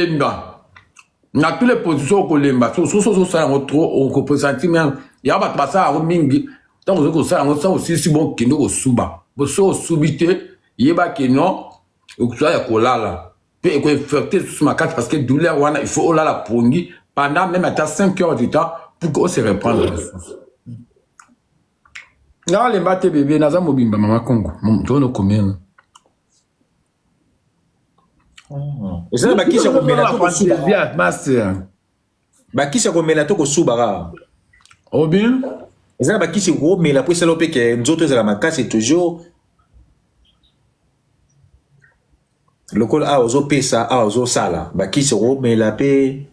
kolemba na tous les position okolemba soki ozosala yango trop okopresenti meme ya bato basala yango mingi ntango ozoki kosala yango sa osilisi bokende kosuba boso osubi te yeba ke non okoza ya kolala mpe ekoinfecte lisusu makasi parce que douleur wana il faut olala pongi pendant même ata 5 heures du temps pour que ose reprendre lisusu nga olemba te bebe naza mobimba mama congo tonokomela eza na bakisi ya komela to kosuba master bakisi ya komela to kosuba kaka obin eza na bakisi komela mpo esala mpe ke nzoto ezala makasi toujours lokola awa ozopesa awa ozosala bakisi komela mpe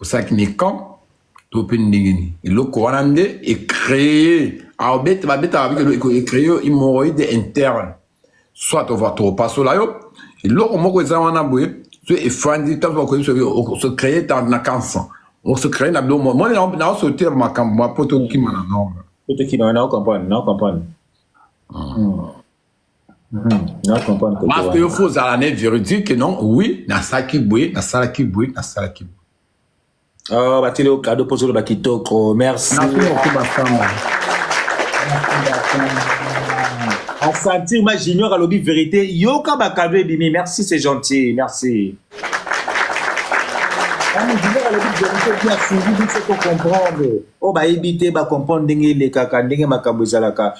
osalaki mikan to mpe ndenge nini eloko wana nde ecree abeta babetaka bikelo ecree hemorroïde interne soit opasola yo eloko moko eza wana boye so efandi ntango bakoyebisa se cree na cancer ose cree na biloko moko moni naosotela makambo ma mpo tokima na norme mpo tokima na comprendre na comprendre Parce que yo faut ozala ne véridique non oui nasalaki boye nasalaki boye nasalaki boye Oh, batili yo kado mpo ozoloba kitoko merci asentir ma junior alobi vérité yoka bakado ebimi merci c'est gentil merci junior alobi vérité bien suivi biso tocomprendre oyo oh, bayebi te bacomprendre ndenge elekaka ndenge makambo ezalaka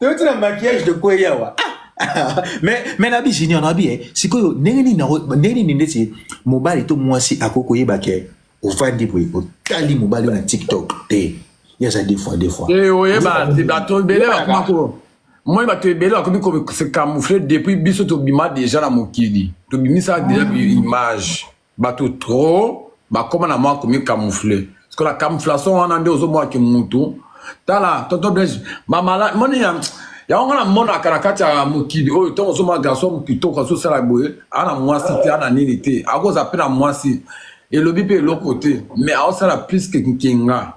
toyoti na maquillage de kwe yawa mais mais na bi junior na bi eh, sikoyo ndenge nini ndenge nini ndeti mobali to mwasi akoki koyeba ke ofandi boye otali mobali na tiktok te ye aza deux fois deux fois eh, oyeba bato ebele bakoma ko moi bato ebele bakomi ko se camoufler depuis biso tobima deja na mokili tobimisa deja image Bato trop bakoma na mwa komi camoufle. Siko la camouflation wana nde ozo mwa ki mutu. Tala tonton Blaise mamala moni ya yango nga namonaka na kati ya mokili oyo ntango ozomona garçon kitoko azosala boye ana mwasi te ana nini te akozala mpe na mwasi elobi mpe eloko te mais aosala plus ke nkenga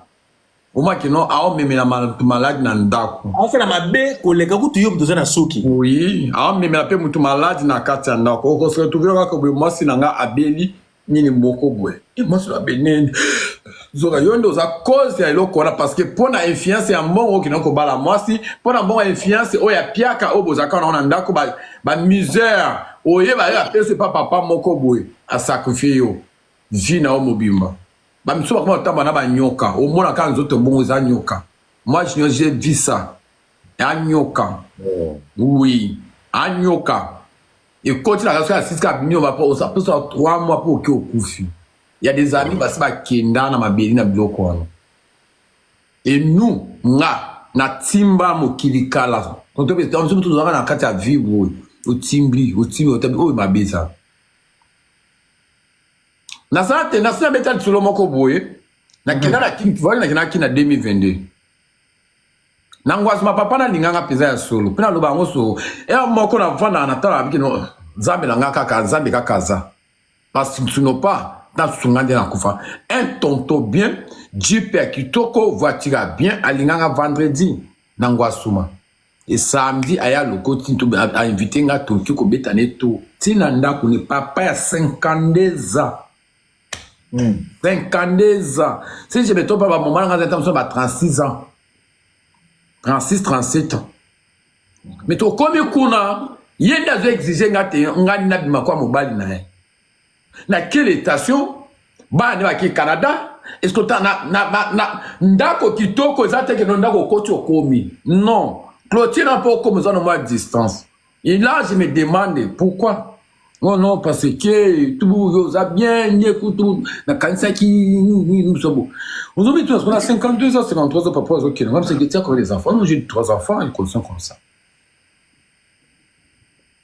Oma kino aomemela mutu malade na ndako. Aosala mabe koleka kutu yo mutu oza na suki. Oui, aomemela mpe mutu malade na kati ya ndako. Okose retrouver kaka boye mwasi na nga abeli nini moko boye. E mwasi na abeli nini? Zoka yo nde oza cause ya eloko wana parce que mpo na influence ya mbongo okenda kobala mwasi mpo na mbongo ya influence oyo ya piaka oyo bozalaka nango na ndako ba, ba misère oyeba yo apesi epa papa moko boye asakrifie yo vie na yo mobimba ba misusu bakoma kotamba na banyoka omona kaka nzoto bongo eza nyoka moi junior je vis ça anyoka oui anyoka ekoti na kaso ya siska abimi oba po osaposa 3 mois po oke okufi ya des amis basi bakenda na mabeli na biloko wana et nous nga natimba mokili kala tonto mpe tonso motu tozalaka na kati ya vibre oyo otimbi otimbi otabi oyo mabe ezala naza te nasi nabeta lisolo moko boye nakenda na kin vali nakenda na kin na 2022 na ngwazima papa nalinganga mpenza ya solo mpe naloba yango solo ere moko navandaka natalaka bikino nzambe na ngai kaka nzambe kaka aza pasino pa nasunga nde nakufa un tonto bien jipe ya kitoko voiture ya bien alinganga vendredi na ngwasuma e samedi aya lokoti to a invite nga toki ko beta ne to tina ndaku ne papa ya 52 ans mm. 52 ans si je me trompe ba maman nga zata ba 36 ans 36 37 ans mais to komi kuna ye nda zo exige nga te nga na bima kwa mobali na ye na quel etation bana nde bake canada eske ta na, na, na, na ndako kitoko eza te keno ndako okoti okomi non clotire na mpo okomi oza na mwa distance et là je me demande pourquoi Oh non, parce que tout vous a bien écouté. tout. Na kanisa ki nous sommes. Vous avez tous, on a 52 ans, 53 ans, papa, ok. Même si c'est que les enfants, j'ai trois enfants, ils sont comme ça.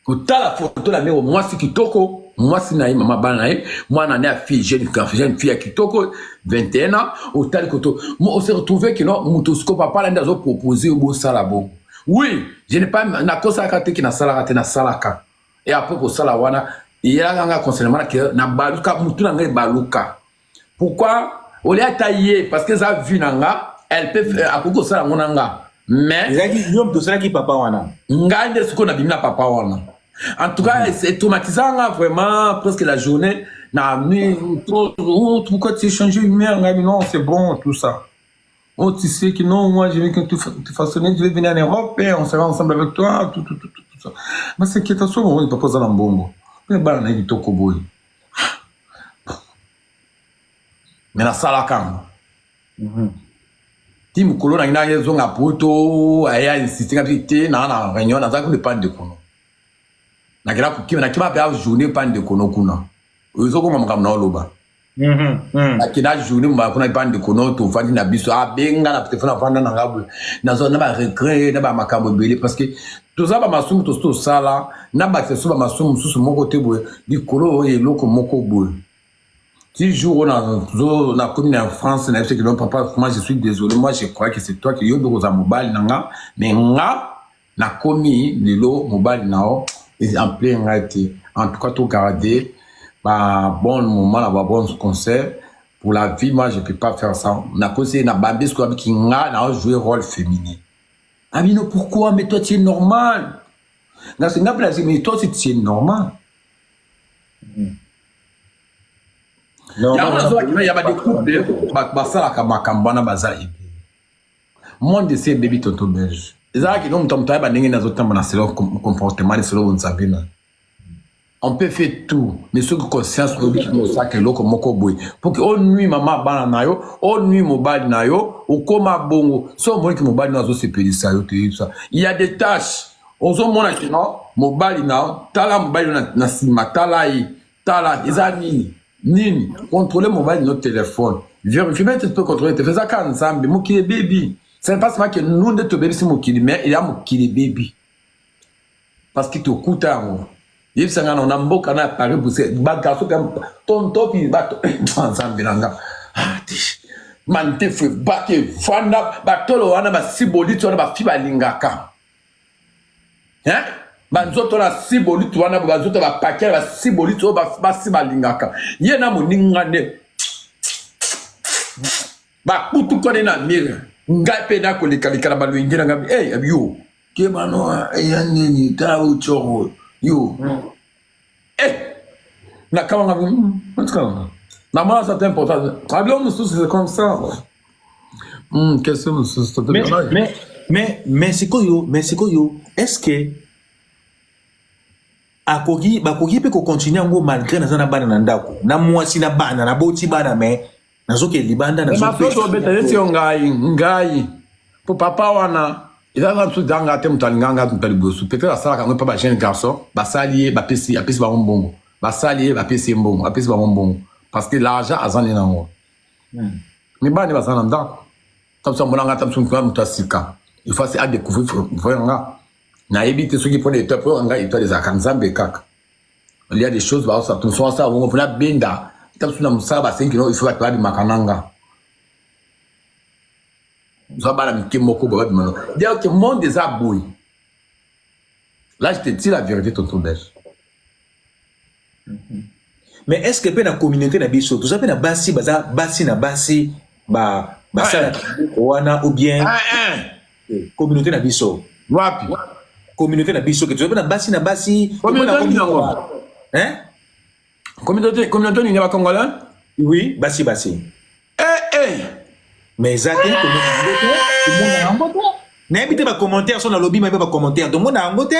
kotala foto na ndenge mwasi kitoko mwasi na ye mama bana na ye mwana na ye afille jeune garçon jeune fille ya kitoko 21 ans otali koto on se retrouve que non moto siko papa na nde azo propose yo bosala bo oui je ne pas nakosalaka te ke nasalaka te nasalaka e apres kosala wana eyelaka nga concernema na ke nabaluka motu na ngai ebaluka pourquoi olie ata ye parce que eza vue na nga elle peut faire akoki kosala yango na nga mais ezalaki yo moto osalaki papa wana ngai nde sikoyo nabimi na papa wana en tout cas mm. etraumatisa nga vraiment presque la journée na mi trop oh, pourquoi tu change une mère ngai non c'est bon tout ça Oh, tu sais que non, moi, je vais que tu, tu façonnes, je vais venir en Europe et on sera ensemble avec toi, tout, tout, tout, tout, tout ça. Mais c'est qui est à soi, on ne peut pas en bongo. Mais bah, on a dit Tokoboy. me nasalaka yango mhm. ti mokolo nangi nangi ezonga poto aya insiste nga te naa na réunion nazalaki mpe pande kono nakela kokima nakima mpe a journée pande kono kuna oyo ezokoma makambo na oloba mhm, mhm. nakenda journée mobala kuna pande kono tofandi na biso abenga na telefone afanda na nga nazwa na baregret na bamakambo ebele parce que toza bamasumu tosi tosala na bakisa biso bamasumu mosusu moko te boye likolo oyo eloko moko boye ti jour oyo nakomi na france na yebisaki donc papa moi je suis désolé moi je crois que c'est toi que yo nde okozala mobali na nga mais nga nakomi lelo mobali na yo exemple ngai te en tout cas togarde babon moment na babon conseil pour la vie moi je peux pas faire ça nakosi na bambi soki abiki nga na ojoue rôle féminin Amino, pourquoi Mais toi, tu es normal. Dans ce cas-là, mais toi, tu es normal. Mm. yango nazwaki na ya badecouple basalaka makambo wana baza ebele monde esi ebebi tonto belge ezalaki no moto moto ayeba ndenge nazotambola selo comportement lisolo bonzambe na on peut faire tout mais soki conscience oyebi kino osaka eloko moko boye mpo ke onui mama bana na yo onui mobali na yo okoma bongo so omoni ke mobali na yo azosepelisa yo toyebisa il y a des tâches ozomona kino mobali na yo tala mobali yo na nsima tala ye tala eza nini nini controle mobali no telefone verifie mpe mpe controle telefone eza kaka nzambe mokili ebebi c'est pas seulement que nous nde tobebisi mokili mais eya mokili ebebi parce que tokuta yango yebisa nga na mboka na paris bruxelles bagarso ka tontopi bato eh, nzambe na nga ah, mandefu ebaki efanda batolo wana basiboliti wana bafi balingaka banzoto na siboliti wana banzoto bapaki ya basiboliti oyo basi balingaka ye na moninga nde bakutukani na mire ngai mpe nakolekaleka na balwenge na ngai hey, eh, yo kemanoa eya eh, nini tala oyo coro yo hmm. eh, nakabanga hmm, namona ça te important abilo mosusu c'est comme ça hmm, question mosusu mais mais sikoyo mais sikoyo est ce que akoki bakoki mpe kocontinue yango malgré naza na bana na ndako na mwasi na bana naboti bana mais nazokende libanda nazomasoso obeta neti yo ngai ngai po papa wana eza na biso zanga te moto alinga ngai moto aliboso peut-être asalaka yango epa ba jeune garçon basali ye bapesi apesi bango mbongo basali ye bapesi ye mbongo apesi bango mbongo parce que l'argent aza nde nango hmm. mibali nde baza na ndako ta biso amona ngai ta biso moto moto ya sika efasi adecouvrir vrai nga nayebi te soki mpona etoile mpo nga etoile ezalaka nzambe kaka il y a des choses baosa tomosusu asala bongo mpona benda ata mosusu na mosala basengi kino iso bato babimaka nanga oza bana mike moko boye babima no donc monde eza boye là je te dis la vérité tonton belge mais est ce que mpe na communauté na biso toza mpe na basi baza basi na basi basalaka wana ou bien communauté na biso wapi communauté na biso ke toza na basi na basi communauté nini yango hein communauté communauté nini ba congolais oui basi basi eh eh mais eza te komona yango te komona yango te nayebi te ba commentaire so nalobi mabe ba commentaire tomona yango te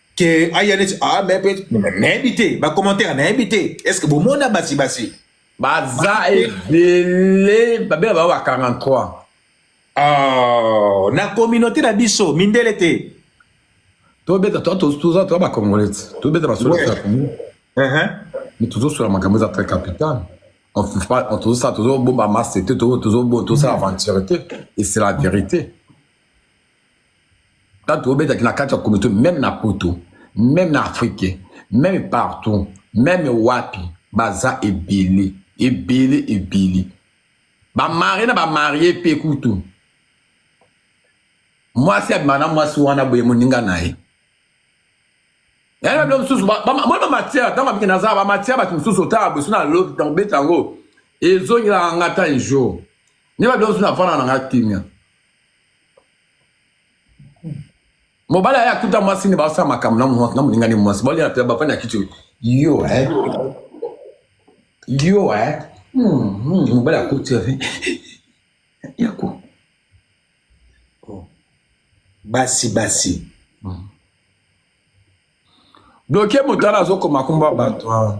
ke aya neti ah mais peut nayebi te ba commentaire nayebi te est ce que bomona basi basi baza ebele babela bango ba 43 oh, na communauté na biso mindele te tobeta toza toza bacongolais tobeta basolo ya congo mais tozosola makambo eza très capital tozosala tozobomba masse te tozosala aventure te et c'est la vérité tanto obetaki na kati ya komite meme na poto meme na afrike meme partout meme wapi baza ebele ebele ebele bamari na bamarie mpe kutu mwasi abima na mwasi wana boye moninga na ye yango bilo mosusu moi bamatière ntango abiki naza bamatière bato mosusu otala boso na lobi ntango beta yango ezongelaka nga ta ejour nde babilo mosusu nafanda na nga kimia mobali aye akuta mwasi nde baosala makambo na molingani mwasi baolela mpe bafani ya kiti yo eh? yo eh? hmm, hmm, mobali akuti yako oh. basi basi hmm. bloke moto wana azokoma komba bato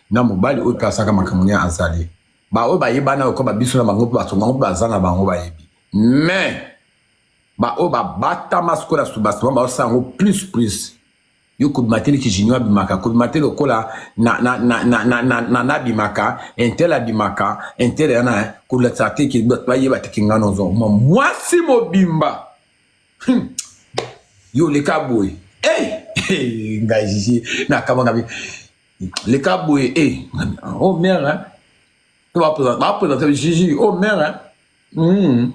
na mobali oyo mpe asalaka makambo nini azali baoyo bayebana oyo koba biso na bango mpe bato bango mpe baza na bango bayebi mais baoyo babatama sikoyo na subasema baosala yango plus plus yo kobima te liki junior abimaka kobima te lokola nanabimaka intel abimaka intel yana kolakisa te ke bato bayeba te ke ngai nozo mwasi mobimba hmm. yo oleka boye eh, eh, ngai jiji nakamwaka leka boye e eh, o oh, mere to bapresente jiji o oh, mere hmm.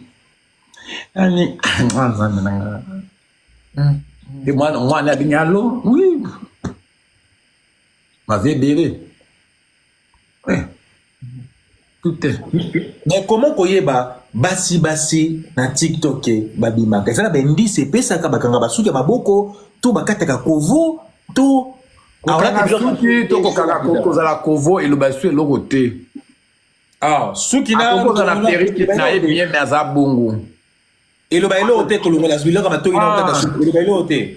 ani ah, nzambe na nga hmm. e mwana mwana abingi alo wi mavi ebele eh. mais comment koyeba basi basi na tiktok babimaka eza na baindice epesaka bakanga basuki ya maboko to bakataka kovo to suki to kozala kovo eloba su eloko te ah, suki nakozala perike na ye bien me aza bongo eloba eloko te kolongola biloko matoki na okata ah. suki eloba eloko te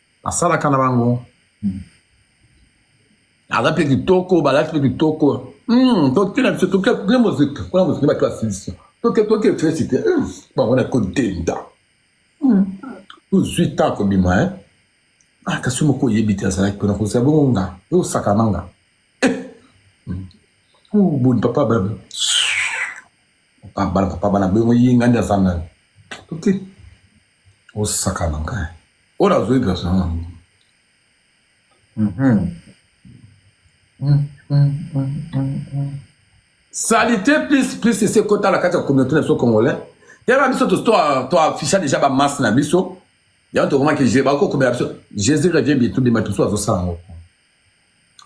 asalaka na bango aza mpe kitoko balati mpe kitoko hmm, totina biso toke moziki kuna moziki bato ya silisi toke toke efesi te hmm, bango na kodenda hmm, tozwi ta kobima e ah, kasi moko oyebi te azalaki mpona kozala bongo nga eosakana nga eh, oh, boni papa bana papa bana boyongo ye nga nde aza nani toke osakana ngai oyo nazwi version yango salite plus plus esi ekota na kati ya communauté na biso congolais tala biso toafficha déjà bamasse na biso yango tokomaki bakokomela biso jésus revie bitu bima biso azosala yango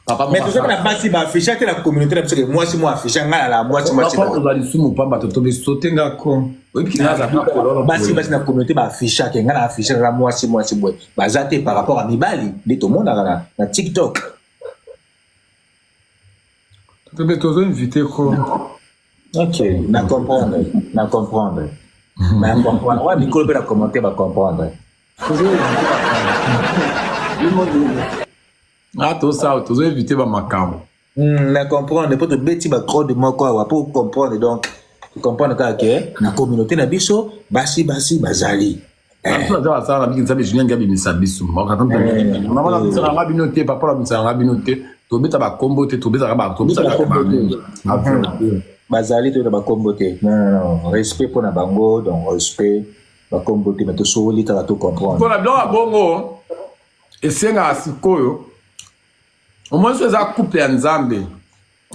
papa mais tozali na basi ba afficha te na communauté na biso ke mwasi mo afficha ngai nala mwasi mwasi papa tozali lisumu pamba to tobe sote nga ko oyebi kina aza na kololo basi basi na communauté ba afficha ke ngai na afficha na mwasi mwasi boye baza te par rapport à mibali nde tomonaka na na tiktok tobe tozo invité ko ok na comprendre na comprendre na comprendre wa mikolo mpe na commentaire ba comprendre nga tosala tozo evite bamakambo hmm, na comprendre mpo tobeti bacode moko awa mpo comprendre donc comprendre kaka ke na communauté na biso basi basi bazali eh. aza basala na biki nzambe julien ngi abimisa biso mama na bimisaka nga bino te papa na bimisaka nga bino te tobeta bakombo te tobetaka bazali toyeba bakombo te respect mpo na bango donc respect bakombo te bato sowoli kaka to comprendre mpona biloko ya bongo esengaka sikoyo omoni so eza couple ya nzambe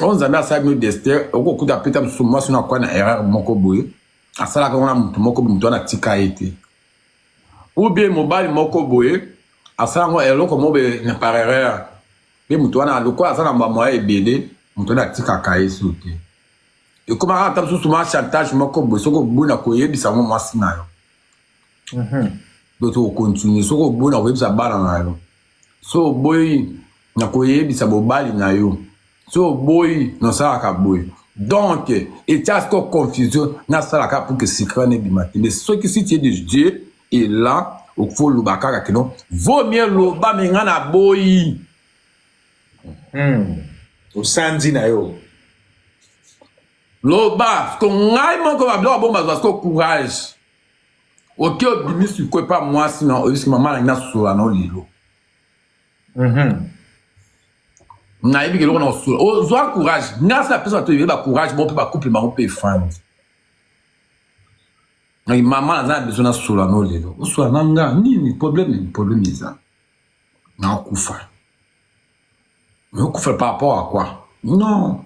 oyo nzambe asala bino destin okokuta apeta mosusu mwasi na kwa na erreur moko boye asalaka yango na motu moko boye motu wana atika ye te ou bien mobali moko boye asala yango eloko moko boye na par erreur mpe motu wana lokola aza na bamoya ebele motu wana atikaka ye so te ekomaka ata mosusu ma chantage moko boye soki oboni na koyebisa yango mwasi na yo mhm. do tokokontinue soki oboni na koyebisa bana na yo so oboyi na koyebisa bobali na yo so oboyi nasalaka boye donc etya siko confusion nasalaka pour que secret nebima te mais soki si tie de dieu est là okfo oloba kaka kino vaut mieux loba me ngai naboyi Hmm. osanzi na yo loba ko ngai moko babiloko bongo bazwa siko courage oke obimi siko epa mwasi na oyebisi mama nangi nasola na lelo mhm. nayebi keloko na kosola ozwa courage ngasi apesa bato ebele bacourage bango mpe bacouple bango mpe efandi mama naza na besoin nasola na lelo osola na nga nini probleme probleme eza naokufa naokufa par rapport à quoi non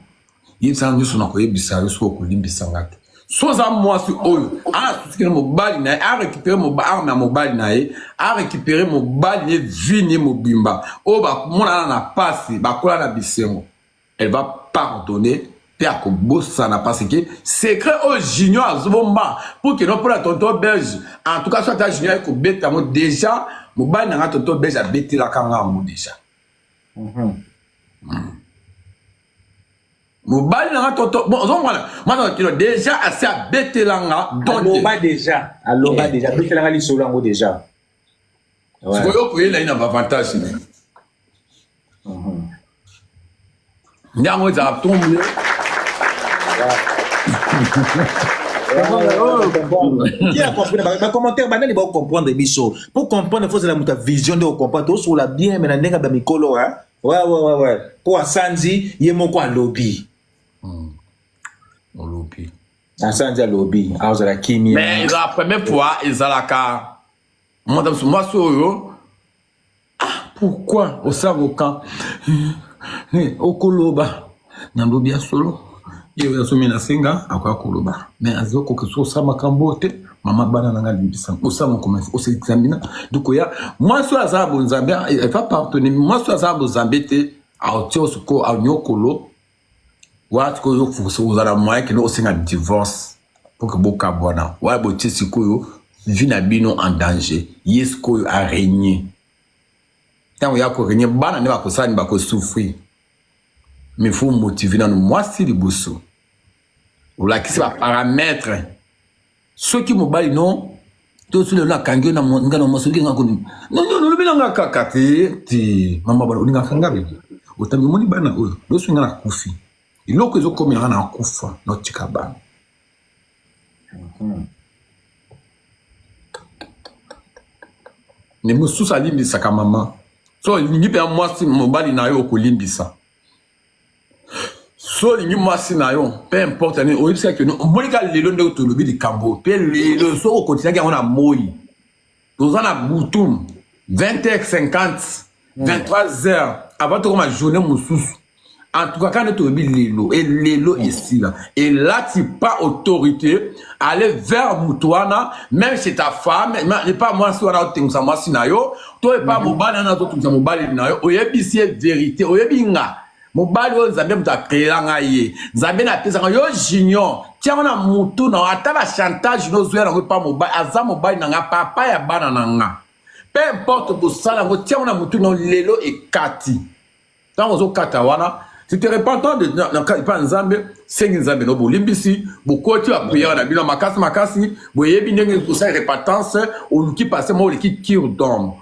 yebisa nga nyonso nakoyebisa yo soki okolimbisa nga te so oza mwasi oyo asosikela mobali na ye arécupere arme ya mobali na ye arécupere mobali na ye vini ye mobimba oyo bamonana na pasi bakola na bisengo elle va pardonner mpe akobosana parce que secret oyo junior azobomba pour que nopona tonton belge en tout cas so ata junior aye kobeta yango déjà mobali na nga tonton belge abetelaka nga yango déjà mhm. hmm. mobali na nga tonton bon ozomona mwana kino déjà asi abetela nga donaloba déjà aloba eh. déjà abetelanga lisolo yango déjà Ouais. sikoyo koyela ye na bavantage ne nde yango ezalaka tombe Qui a compris ba ba commentaire banani ba comprendre biso pour comprendre faut la muta vision de comprendre to sur la bien mais na ndenge ba mikolo hein ouais ouais ouais ouais ko asanzi ye moko alobi olobi asanzi alobi azala kimia mais ezala premier fois ezalaka mwata mosusu mwasi oyo ah pourquoi osaboka okoloba nalobi ya solo ye oyo asomi na senga akoya koloba mais azokoka soki osala makambo oyo te mama bana na ngai limbisa kosala mokoma ose examina dukoya mwasi oyo azala bonzambe efa partone mwasi oyo azala bonzambe te aotio soko anyokolo wana sikoyo yo fuso oza na moyen kende osenga divorce mpo ke bokabwana wana botie sikoyo vie na bino en danger ye sikoyo aregne ntango ya koregne bana nde bakosala ni bakosouffrir mais faut motive nano mwasi liboso olakisi baparametre soki mobali no to soki lelo akangi yo na ngana mwasi olingi nga kondima nonyo olobi na nga kaka te ti mama bana olinga kanga bebe otangi omoni bana oyo loso nga na kufi eloko ezokomela nga na kufa notika bana ne mosusu alimbisaka mama so olingi mpe ya mwasi mobali na yo okolimbisa so olingi mwasi na yo peu importe nini oyebisi kake omoni ka lelo ndeko tolobi likambo oyo mpe lelo soki okotisaki yango na moi toza na butum 20 heures 50 23 heures avant tokoma journée mosusu en tout cas kaka nde toyebi lelo e lelo esila elati pas autorité aller vers moto wana même chez ta femme epa mwasi wana otengusa mwasi na yo to epa mhm. mobali wana azotungisa mobali na yo oyebisi ye verité oyebi nga mobali oyo nzambe moto akreela ngai ye nzambe napesaka yo junior tiango na mutu na ata na chantage nozwela yango epa mobali aza mobali na nga papa ya bana na nga peu importe bosala yango tiango na mutu na lelo ekati ntango ozokata wana tu te repentant de epa nzambe sengi nzambe no bolimbisi bokoti bapriere na bino makasi makasi boyebi ndenge kosala repentance oluki pase moko oleki kir dome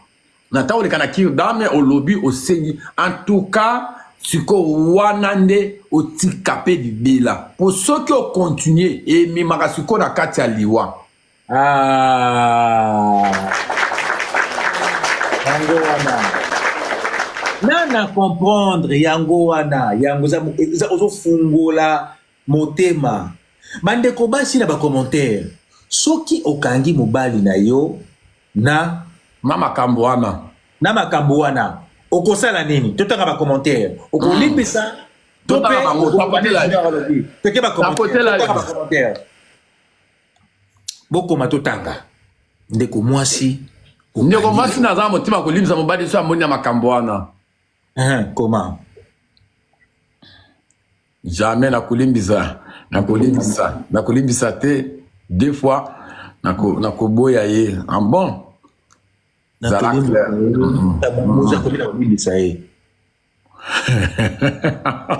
na ntango oleka na kir dame olobi osengi en tout cas sikoyo wana nde otika mpe libela mpo soki okontinue ememaka sikoyo na kati ya liwa Ah. yango wana na na comprendre yango wana yango ozofungola motema bandeko basi na bacommentaire soki okangi mobali na yo na na makambo wana na makambo wana okosala nini totanga bacommentaire okolimbisa mm. tope bakotela bokoma totanga ndeko mwasi ndeko mwasi naza na motima kolimisa mobali so amoni na makambo wana koma jamais nakolimbisa nakolimbisa nakolimbisa te deux fois nakoboya na ye en bon zala clair mm-hmm.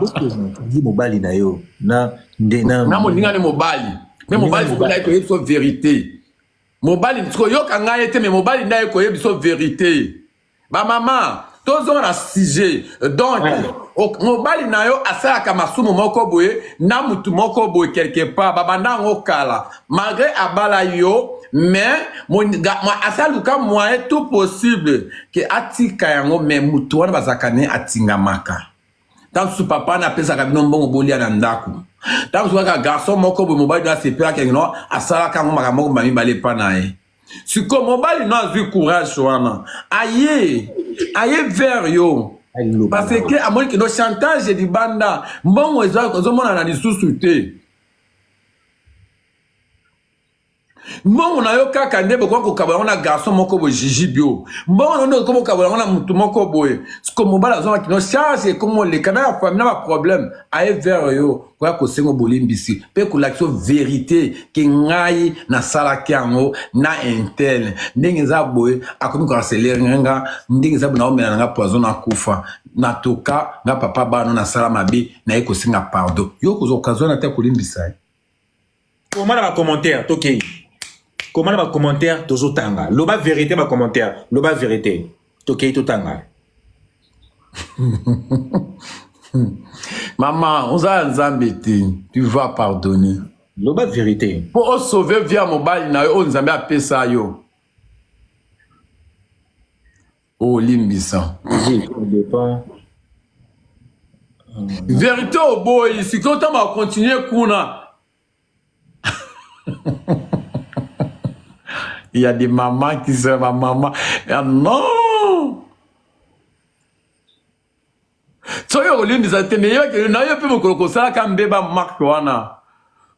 Okangi mobali na yo na nde na na moninga ne mobali me mobali soki naye koyebi so verite mobali koyoka ngai ye te me mobali nde aye koyebi so verite bamama tozonga na sujet donc o- mobali na yo asalaka masumu moko boye na mutu moko boye quelque part babanda yango kala malgré abala yo mais asa luka moyen tout possible ke atika yango mais moto wana bazalaka ne atingamaka ntango mosusu papa na apesaka bino mbongo bolia na ndako ntango mosusu kaka garçon moko boye mobali no asepelaka no asalaka yango makambo moko mamibale epa na ye sikoyo mobali no azwi courage wana aye aye vers yo parce que amoni kino chantage libanda mbongo ezomonana lisusu te mbongo na yo kaka nde bokoki kokabola yango na garçon moko boye jiji bio mbongo na yo nde okoki kokabola yango na motu moko boye siko mobali azongaki no charge ekomi oleka na ya fami na baproblème aye vere yo koya kosengo bolimbisi mpe kolakisa verité ke ngai nasalaki yango na intel ndenge eza boye akomi koarselere nga ndenge eza boye naomela na nga poison na kufa na toka nga papa bano nasala mabe naye kosenga pardon yo kozwa okazwa na te kolimbisa ye eh. koma na bacommentaire tokei koma na bacommentaire tozotanga loba verité bacommentaire loba verité tokei totanga mama oza ya nzambe te tu vas pardonner loba verité mpo osauve via mobali na yo oyo nzambe apesa yo Oh, limbisa. Verite oboyi, sikoyo ntango akontinue kuna. Il y a des mamans qui sont ma maman. Ah non! soki okolimbisa te me yoke na yo mpe mokolo kosalaka mbeba marke wana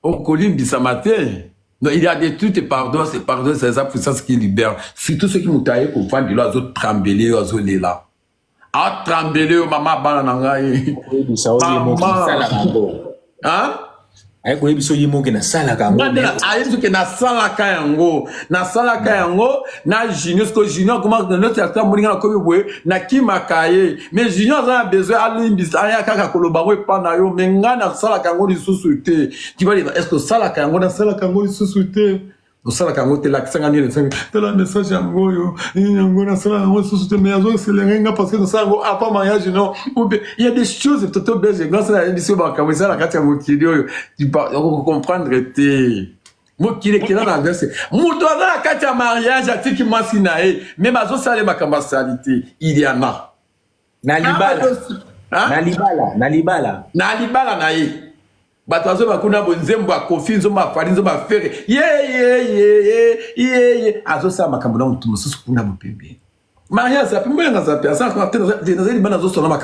okolimbisama te Non, il y a des trucs et pardon, c'est pardon, c'est ça puissance qui libère. Surtout ceux qui m'ont taillé pour prendre de l'eau, azo trembler, azo lela. A trembler, maman bana na ngai. Maman. hein? aye koyebi biso ye moke nasalaka yango ayebi biso ke nasalaka yango nasalaka yango na junior siko junior akoma noti ata moninga nakomi boye nakimaka ye mais junior aza na besoin alimbisa aya kaka koloba yango epa na yo mais ngai nasalaka yango lisusu te kibalela eske osalaka yango nasalaka yango lisusu te osalaka yango te lakisa nga nini esengi tala message yango oyo nini yango nasala yango lisusu te mais azo eselenge nga parce que nasala yango avant mariage non ou bien il y a des choses toto belge grâce na yebisi yo makambo eza na kati ya mokili oyo okocomprendre te mokili ekela na verse moto aza na kati ya mariage atiki mwasi na ye me bazosala ye makambo asali te iliana na libala na libala na libala na libala na ye bato azoba kuna bo nzembo ya kofi nzombo ya fali nzombo ya fere yeyeyeyeye azosala makambo na motu mosusu kuna bopembeni maria azapi mboya nga azapi azanaza libanda azosona na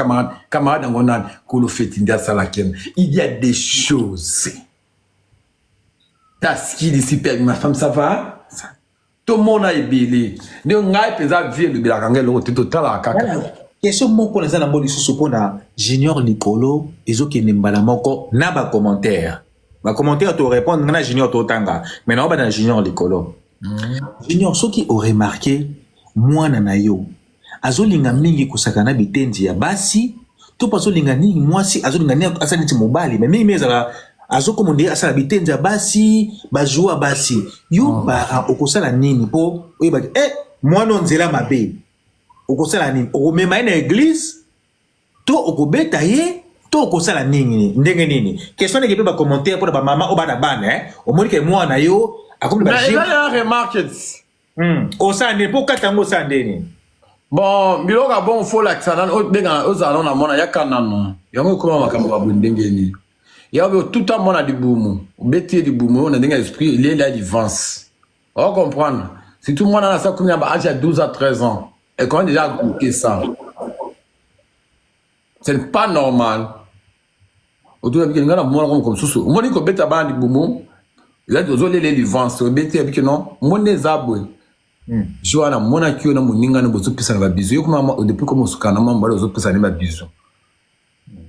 camarade yango nani kolo feti nde asalaki yana il y a des choses taskilisi pe ma femme ça va tomona ebele nde ngai mpenza vie elobelaka ngai eloko te totalaka kaka question moko naza nango lisusu mpo na junior likolo ezokende mbala moko na bacommentaire bacommentaire torépondre ngai na junior totanga mai naoba na junior likolo mm. junior soki oremarke mwana na yo azolinga mingi kosaka na bitenzi ya basi to mpe azolinga nini mwasi azolinga nini asala neti mobali me mingi mingi ezala azokoma nde asala bitenzi ya basi bazua ya basi yo oh. para okosala nini mpo oyebaki e eh, mwana nzela mabe okosala nini okomema ye na eglize to okobeta ye to okosala nini ndenge nini question ndenge mpe bacommentaire mpo na bamama oyo bana bana eh? omoni ke mwana yo akomi ba remarques Hmm. Osala nde mpo okata yango osala nde nini? Bon, biloko ya bongo fo olakisa nano obenga ozala nano na mwana yaka nano yango ekoma makambo ya boye ndenge nini ya obe otuta mwana libumu obeti ye libumu oyo na ndenge ya esprit elieli ya livance o comprendre surtout mwana na sakomi na baage ya 12 à 13 ans ekoma deja agoute ça c'est pas normal otunabike nga na monaka moko mosusu omoni kobeta bana libumu ozolela livance obeti yabike non omoni nde eza boye hmm. je wana amonaki yo na moninga na bozopesana babizu yo kuma depuis koma osukana mwa mobali ozopesana ne babizu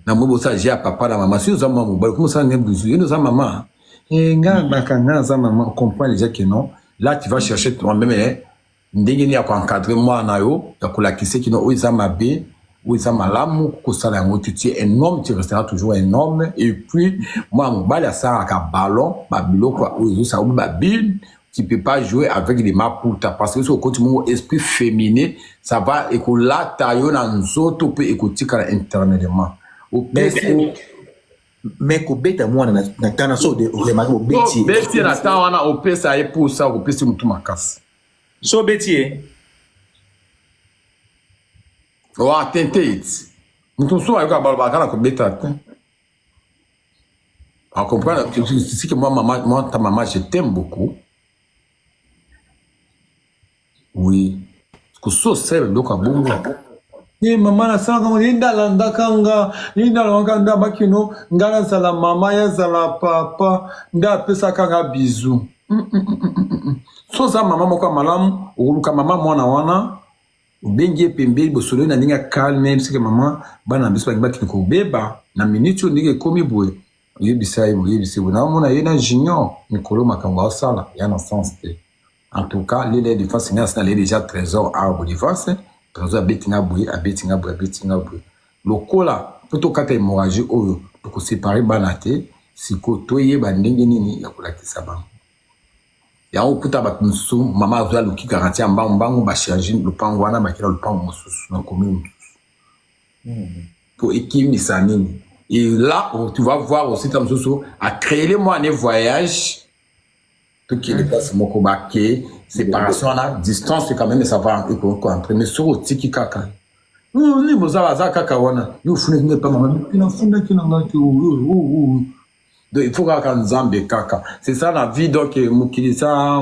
na moi bosala je ya papa na mama soki oza mwa mobali okoma osala ne bizu yo nde oza mama eh, nga hmm. baka nga aza mama comprend deja ke non là tu vas chercher toi-même eh. ndenge nini ya ko encadrer mwana na yo ya kolakise kino oyo eza mabe oyo eza malamu kosala yango te tu un homme tu restera toujours un homme et puis mwana mobali asalaka ballon babiloko oyo ezosala obi babine tu peux pas jouer avec les maputa parce que soki okoti mongo esprit féminin ça va ekolata yo na nzoto mpe ekotikala internellement opesi mais kobeta mwana na, na tana so de remaki obeti ye beti ye na tan wana opesa ye posa okopesi motu makasi so obeti ye wa tente iti motu mosusu ayoka balobaka na kobeta te akomprendre sike mwa mama mwa ta mama je t'aime beaucoup Oui. Kusu osala biloko ya bongo. Ye mama nasalaka ngo, ye nde alandaka nga, ye nde alongaka nde abakino nga nazala mama, ye azala papa, nde apesaka nga bizu. Mm, mm, mm, mm, mm, mm. So oza mama moko ya malamu, okoluka mama mwana wana, obengi ye pembeni, bosololi na ndenge ya calme, yebisi ke mama, bana na biso balingi bakende kobeba, na minute oyo ndenge ekomi boye, oyebisa ye boye, oyebisa ye boye. Naomona ye na junior, mikolo makambo asala, ya na sens te. En tout cas, lele ya defense ngai asina lele deja trésor awa bo defense. Trésor abeti nga boye, abeti nga boye, abeti nga boye. Lokola po tokata hémorragie oyo toko séparer bana te, siko toyeba ndenge nini ya kolakisa bango. Yango okuta bato mosusu mama azwi aluki garantie ya mbangu mbangu ba change lopango wana bakela lopango mosusu na commune mosusu. Hmm. Po ekimisa nini? Et là, tu vas voir aussi ta mosusu a créer moi un voyage tokende place moko bake séparation wana distance quand même ça va ekoentre mais soki otiki kaka nini boza aza kaka wana yo ofundaki ngai pamba mabe nafundaki na ngai te donc il faut kaka nzambe kaka c'est ça la vie donc mokili sa